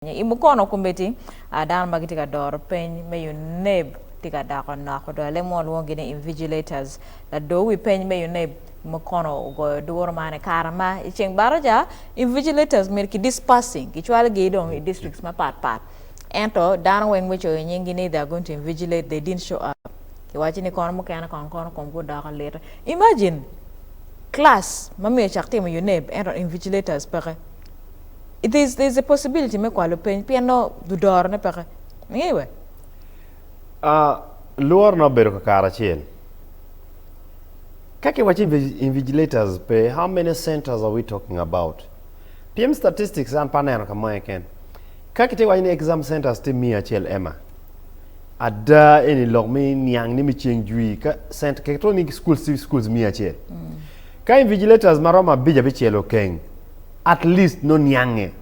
I mukono kombeddi, dano ma gitye ka doro peny me UNEB tye ka dako nok odok. Alem mo lwongogi ni invigilators. Lado wi peny me UNEB i mukono ogoyo duru man i kare ma i ceng baraca, invigilators myero ki dispersing, kicwalogi dong i districts mapat pat. Ento dano weng mucoyo nyinggi ni they are going to invigilate, they didn't show up. Kiwaco ni kono mukene kong kono komgi odoko lit. Imagine class ma myero ocak timo UNEB ento invigilators peke. There's, there's a possibility me kwalo peny pien no dudorone peke. Ingeyo we? Ah, lworo na obedo ka kare acel. Ka kiwaco invi- invigilators pe, how many centers are we talking about? Pien statistics an pe aneno ka mo keken. Ka kite waco ni exam centers tye miya acel Emma. Ada eni lok mi niang ni mi ceng jwi ka cent keto ni schools tye schools miya acel. Ka invigilators ma romo abic abicel okeng, at least nongo niange.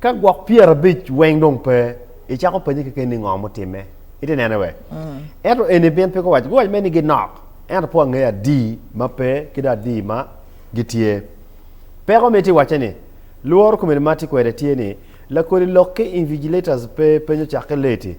Ka gwok pyera abic weng dong pe, icako penye keken ni ngo mutime. Ite nene we? Mm. Ento eni bin pe guwac, guwac me ni ginok. Ento po angeyo adi ma pe ki do adi ma gitye. Peko me ti wace ni, lworo komeni ma ti kwede tye ni, lakodi lok ki invigilators pe penyo cake leti,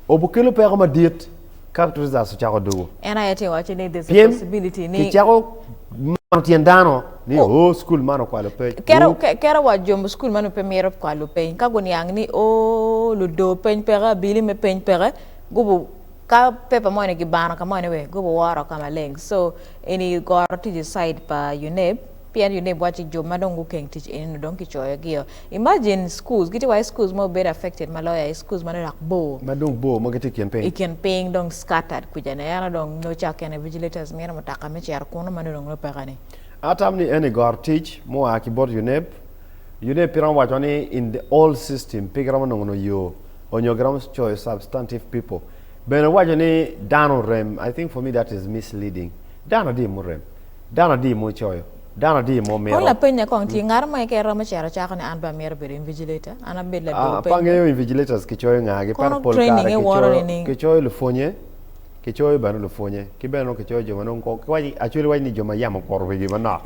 obukelo peko madit. Ka Trezas ocako dugo. En aye tye waco ni there's a possibility ni. Kicako mano tyen dano ni oh, oh school man okwalo peny. Kero, kero wa jo mu school man pe miro kwalo peny. Ka guniang ni oh, ludo peny peke, abili me peny peke, gubu ka paper mo ni gibano ka mo ni we, gubu woro ka maleng. So, eni goro tic i side pa UNEB. Pien yo ne bwaci jo ma dong gukeng tic eni nongo dong kicoyo gio. Imagine schools, gitye wa i schools ma obedo affected ma loyo aye schools ma dok bor. Ma dong bor ma gitye i kin piny. I kin piny dong scattered kuca ni eno dong nyo cak kene vigilators mine mutaka me cito kunu ma nongo dong nongo peka ni. Atam ni eni goro tic mua ki bot UNEB. UNEB pe romo waco ni in the old system pe giromo nongo no yo onyo giromo coyo substantive people. Bene waco ni dano orem, I think for me that is misleading. Dano adier murem? Dano adi ma ocoyo? Dano adi ma omito? Kong lapenye kong, Tye ngato mo keken romo cito cako ni an pe amito bedo invigilator? An abed ladwo penyo? Pe angeyo invigilators kicoyo ngagi, pero pol kare kicoyo lupwonye, kicoyo bene lupwonye, ki bene nongo kicoyo jo ma nongo actually iwaco ni jo ma yam okuto wigi manok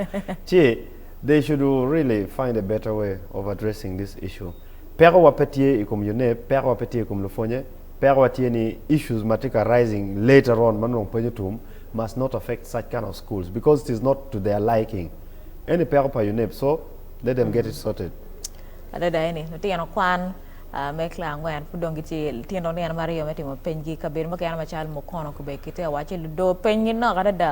ci they should really find a better way of addressing this issue. Pekowa pe tye i kom UNEB, pekowa pe tye i kom lupwonye, pekowa tye ni issues ma tye ka rising later on ma nongo pwonyo tum, must not affect such kind of schools because it is not to their liking eni peko pa UNEB so let them get it sorted. Adada eni lutino kwan me cla angwen pud dong gitye litino nino maryo me timo peny gi kabedo mukene macalo Mukono kube kite awaco ludoo peny gi nok adada